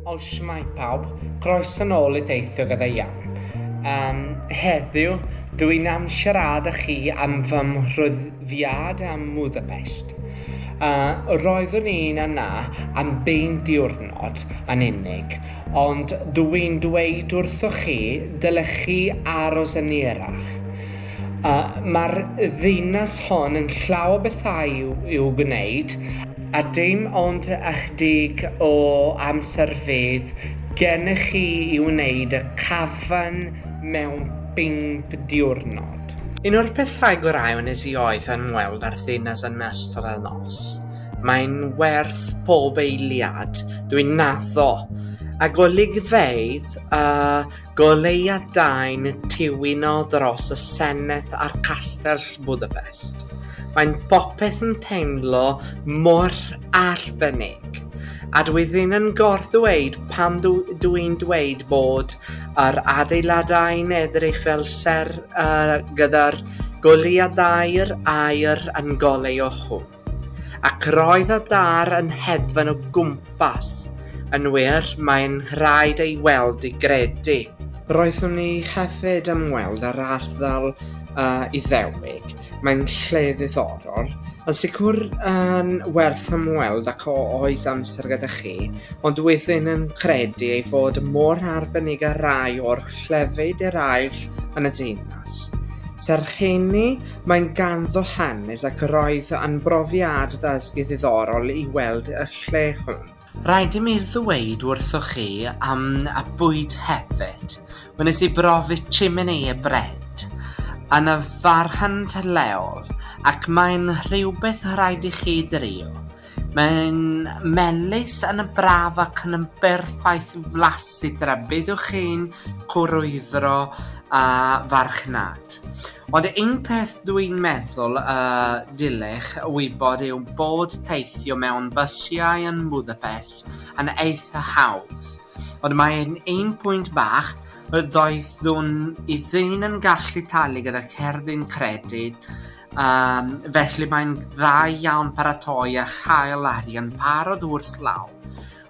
O, shwmae pawb, croeso nôl i Deithio Gyda Iawn. Um, heddiw, dw i'n am siarad â chi am fy mhryddiad am Budapest. Uh, roeddwn i'n yna am bein diwrnod yn unig, ond dw i'n dweud wrthoch chi dylech chi aros yn erach. Uh, Mae'r ddinas hon yn llaw o bethau i'w, i'w gwneud, A dim ond ychydig o amser fydd gennych chi i wneud y cafn mewn pump diwrnod. Un o'r pethau gorau wnes i oedd ymweld â'r ddinas yn ystod y nos. Mae'n werth pob eiliad dwi'n naddo, a golygfeydd y Goleuadau'n tiwino dros y Senedd a'r Castell Budapest. Mae'n popeth yn teimlo mor arbennig. A dwi ddim yn gorddweud pam dw i'n dweud bod yr adeiladau'n edrych fel ser uh, gyda'r goleuadau'r air yn goleu o hwn. Ac roedd y daear yn hedfan o gwmpas. Yn wir, mae'n rhaid ei weld i gredu. Roeddwn ni hefyd am weld yr ardal uh, Iddewig. Mae'n lle ddiddorol, yn sicr yn werth ymweld ac o oes amser gyda chi, ond wyddyn yn credu ei fod mor arbennig ar rai o'r llefydd eraill yn y deunas. Serch hynny, Mae'n ganddo hanes ac roedd yn brofiad dysgu ddiddorol i weld y lle hwn. Rhaid i mi ddweud wrthoch chi am y bwyd hefyd. Wnes i brofi chimney a bread yn y farchnad leol ac mae'n rhywbeth rhaid i chi drio. Mae'n melys yn y braf ac yn yn berffaith i flasu dyna beth yw'ch chi'n cwrwydro a farchnad. Ond un peth dwi'n meddwl y dylech wybod yw bod teithio mewn bysiau yn Budapest yn eitha hawdd. Ond mae'n un pwynt bach y doeddwn i ddim yn gallu talu gyda cerdyn credyd Um, felly mae'n dda iawn paratoi a chael arian parod wrth law.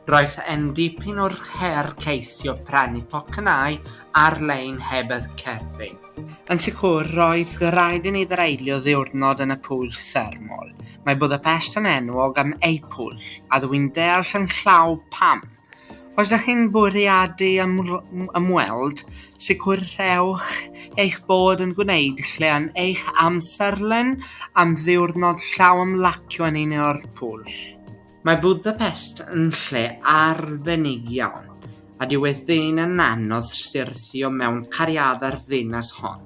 Roedd e'n dipyn o'r her ceisio prynu tocynnau ar-lein heb y cerddi. Yn sicr, roedd rhaid i ni ddareilio ddiwrnod yn y pwyll thermol. Mae bod y person enwog am eu pwyll, a dwi'n deall yn llaw pam. Os ydych chi'n bwriadu ymweld, sicrhewch eich bod yn gwneud lle yn eich amserlen am ddiwrnod llaw ymlacio yn un o'r pwll. Mae Budapest yn lle arbennig iawn, a dyw e ddim yn anodd syrthio mewn cariadau'r ddinas hon.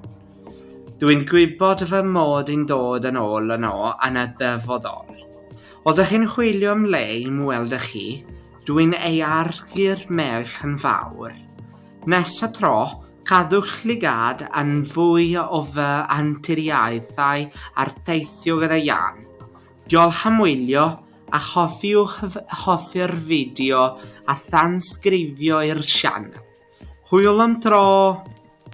Dw i'n gwybod fy mod i'n dod yn ôl yno yn y dyfodol. Os ych chi'n chwilio am le i ymweld â chi, dw i'n ei arlli'r merch yn fawr. Nes y tro, cadwch llygad yn fwy o fy anturiaethau ar theithio gyda Jan. Diolch am wylio, a chofiwch hoffi'r fideo a thansgrifio i'r sianel. Hwyl am tro!